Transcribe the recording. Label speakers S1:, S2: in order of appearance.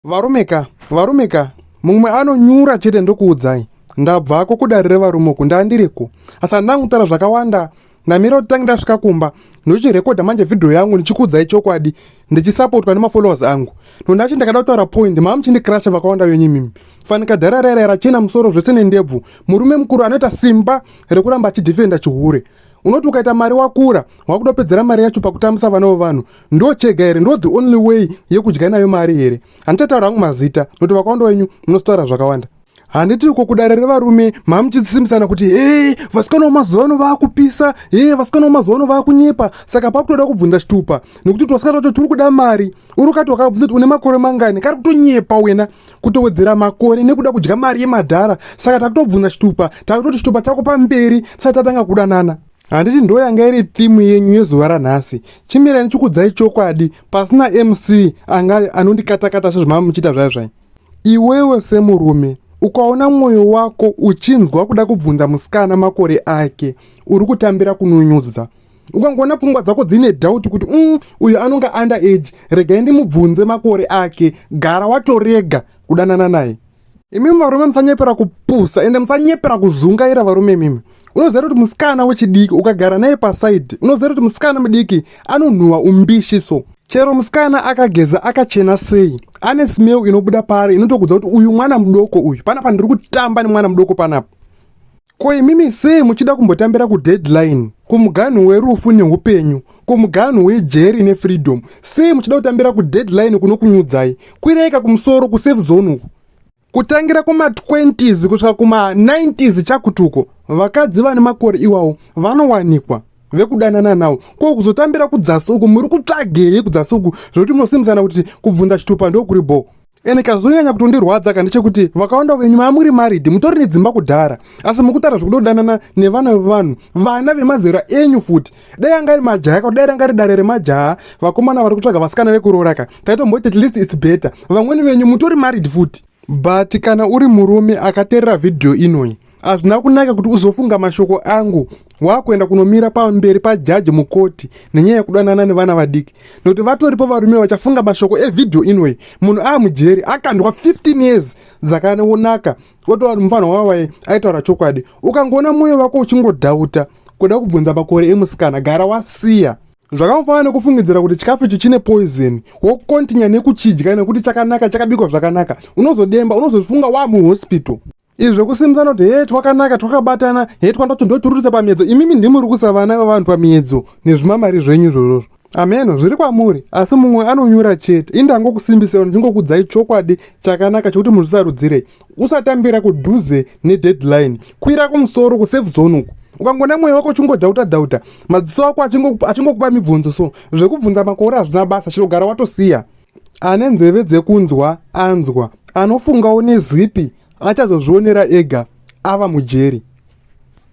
S1: Varume ka, varume ka, mumwe anonyura chete ndokuudzai. Ndabvako kudare revarume uku ndandiriko. Asi handina kutaura zvakawanda. Ndamira kuti tange ndasvika kumba ndochirekodha manje vhidhiyo yangu ndichikuudzai chokwadi ndichisapotwa nemafollowers angu. Nondachi ndakada kutaura point mama muchindikrasha vakawanda venyu imimi. Fanika dhara raira yarachena musoro zvese nendebvu. Murume mukuru anoita simba rekuramba achidefenda chihure. Unoti ukaita mari wakura, wakudopedzera mari yacho pakutambisa vana vevanhu. ndo chega here ndo the only way yekudya nayo mari here handichataura hangu mazita nokuti vakawanda wenyu munozotaura zvakawanda handiti uko kudare revarume mamuchisimbisana kuti hee vasikana wemazuva ano vaakupisa hee vasikana wemazuva ano vaakunyepa saka pakutoda kubvunza chitupa nekuti twasikana tacho turi kuda mari uri ukati wakabvunza kuti une makore mangani kari kutonyepa wena kutowedzera makore nekuda kudya mari yemadhara saka takutobvunza chitupa takutoti chitupa chako pamberi tisati tatanga kudanana handiti ndo yanga iri thimu yenyu yezuva ranhasi chimirani chikudzai chokwadi pasina mc anga anondikatakata sezvamava muchiita zvayo zvai iwewe semurume ukaona mwoyo wako uchinzwa kuda kubvunza musikana makore ake uri kutambira kunonyudza ukangoona pfungwa dzako dzine dhauti kuti um uyo anonga under age regai ndimubvunze makore ake gara watorega kudanana naye Imi varume musanyepera kupusa ende musanyepera kuzungaira varume mimi. Unoziva kuti musikana wechidiki ukagara naye pasaidi unoziva kuti musikana mudiki anonhuwa umbishi so chero musikana akageza akachena sei ane smell inobuda paari inotokudza kuti uyu mwana mudoko uyu panapa ndiri kutamba nemwana mudoko panapa Ko imimi sei muchida kumbotambira kudeadline kumuganhu werufu neupenyu kumuganhu wejeri nefreedom sei muchida kutambira kudeadline kunokunyudzai kwiraika kumusoro kusafe zone uku kutangira kuma20s kusvika kuma90s chakutuko vakadzi vane makore iwawo vanowanikwa vekudanana nawo ko kuzotambira kudzasi uku muri kutsvagei kudzasi uku zvekuti munosimusana kuti kubvunza chitupa ndokuri bhoo ene kazonyanya kutondirwadza ka ndechekuti vakawanda venyu mamuri maridi mutori nedzimba kudhara asi mukutara zvekudodanana nevana vevanhu vana vemazera enyu futi dai anga ari majaya ka dai ranga ri dare remajaya vakomana vari kutsvaga vasikana vekuroora ka taitomboti at least its better vamweni venyu mutori maridi futi but kana uri murume akaterera vhidhiyo inoyi Hazvina kunaka kuti uzofunga mashoko angu wakuenda kunomira pamberi pajaji mukoti nenyaya yekudanana nevana vadiki nokuti vatoripo varume vachafunga mashoko evhidhiyo inoyi munhu aamujeri akandwa 15 years dzakaonaka otova mufanha wawaye aitaura chokwadi ukangoona mwoyo wako uchingodhauta kuda kubvunza makore emusikana gara wasiya zvakafanana nekufungidzira kuti chikafu ichi chine poison wokontinya nekuchidya nekuti chakanaka chakabikwa zvakanaka unozodemba unozozvifunga waa muhospital izvi zvekusimudzana kuti hee twakanaka twakabatana hee twanda tondotwurutsa pamiedzo imimi ndimuri kusa vana vevanhu pamiedzo nezvimamari zvenyu izvozvozvo ameno zviri kwamuri asi mumwe anonyura chete ini ndangokusimbisira ndichingokudzai chokwadi chakanaka chekuti muzvisarudzirei usatambira kudhuze nedeadline kwira kumusoro kusafe zone uku ukangona mwoyo wako uchingodhauta dhauta madziso ako achingokupa mibvunzo so zvekubvunza makore hazvina basa chinogara watosiya Ane nzeve dzekunzwa anzwa, anofungawo nezipi achazozvionera ega ava mujeri.